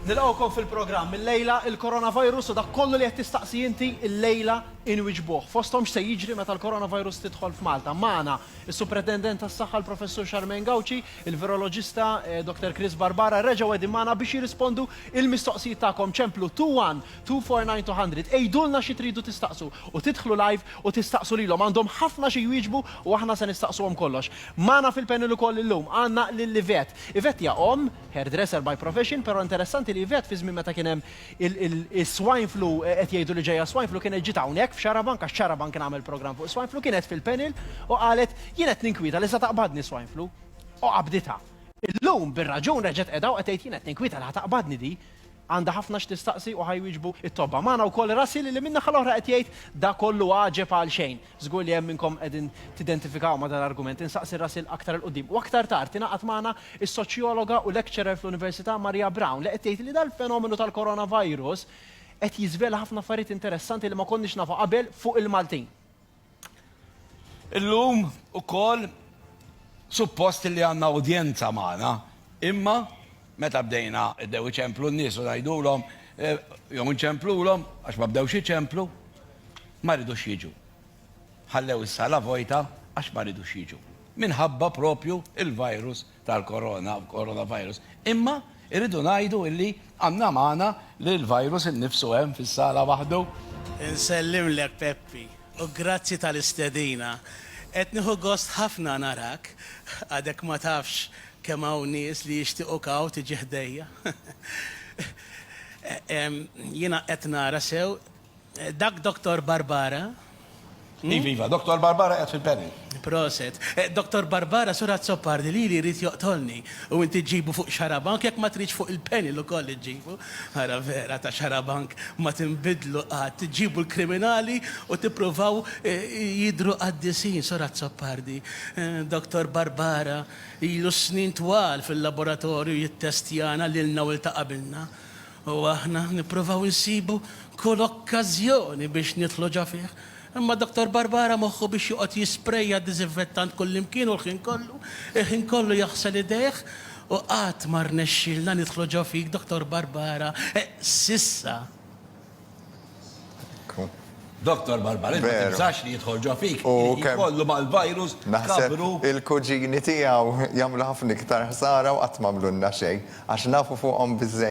Nilqgħukom fil-programm. Illejla il-coronavirus u dak kollu li qed tistaqsi inti illejla inwiġbuh. Fosthom x'se jiġri meta l-coronavirus tidħol f'Malta. Magħna is-Supretendent tas-Saħħa l-Professur Charmaine Gauci, il-Viroloġista Dr. Chris Barbara reġgħu qegħdin magħna biex jirrispondu il-mistoqsijiet tagħkom. Ċemplu 21249 200. Għidulna xi tridu tistaqsu u tidħlu live u tistaqsu lilhom. Għandhom ħafna xi jwieġbu u aħna se nistaqsuhom kollox. Magħna fil-panel ukoll illum għandna lil Yvette. Yvette hija omm, hairdresser by profession, però interessanti li Yvette fi żmien meta kien hemm is-swine flu, qed jgħidu li ġejja s-swine flu, kienet ġiet hawnhekk f'Xarabank għax Xarabank kien għamel programm fuq is-swine flu, kienet fil-panel u qalet, jien qed ninkwieta li sa taqbadni s-swine flu. U qabditha. Illum, bir-raġun, reġgħet qiegħda u qed tgħid, jien qed ninkwieta li ħa taqbadni di. Għandha ħafna x'tistaqsi u ħa jwieġbu t-tobba. Magħna wkoll Russell li min-naħa l-oħra qed jgħid, da kollu għaġeb għalxejn. Żgur li hemm minnkom qegħdin tidentifikaw ma' dan l-argument. Insaqsi rasi l-aktar 'il quddiem. U aktar tard ingħaqadt magħna s-soċjologa u lecturer fl-Università Maria Brown li qed tgħid li dal-fenomenu tal-coronavirus qed jiżvela ħafna affarijiet interessanti li ma konniex nafu qabel fuq il-Maltin. Illum ukoll suppost li għandna udjenza magħna imma Meta bdejna, bdew iċemplu n-nies u ngħidulhom, jew inċemplulhom, għax ma bdewx iċemplu, ma ridux jiġu. Ħallew is-sala vojta għax ma ridux jiġu. Minħabba proprju l-virus tal-korona, coronavirus. Imma rridu ngħidu illi għandna magħna li l-virus innifsu hemm fis-sala waħdu. Insellimlek Peppi u grazzi tal-istedina. Qed nieħu gost ħafna narak, għadek ma tafx Kemm hawn nies li jixtiequ kaw tiġi ħdejja. Jiena qed nara sew, dak Doktor Barbara? Iva, iva, Doktor Barbara qiegħed fil-panel. Proset. Doktor Barbara, Sur Azzopardi lili jrid joqtolni u inti ġġibu fuq xarabank jekk ma tridx fuq il-panel ukoll iġġibu. Ara vera ta' xarabank ma tinbidlu qatt, ġġibu l-kriminali u tippruvaw jidhru qaddisin, Sur Azzopardi. Doktor Barbara. Ilu s-snin twal fil-laboratorju jittestjana lilna u 'l ta' qabilna, u aħna nippruvaw insibu kull okkażjoni biex nidħlu ġo fih. Imma Dottor Barbara moħħu biex joqgħod jisprejja diżinfettant kullimkien u l-ħin kollu, il-ħin kollu jaħsel idejh, u qatt ma rnexxielna nidħlu ġo fik Dottor Barbara, s'issa. Doktor Barbarin, ma tibżax li jidħol ġo fik, jkollu mal-virus kabru. Il-kuġini tiegħu jagħmlu ħafna iktar ħsara u qatt m'għamlulna xejn, għax nafu fuqhom biżżejjed.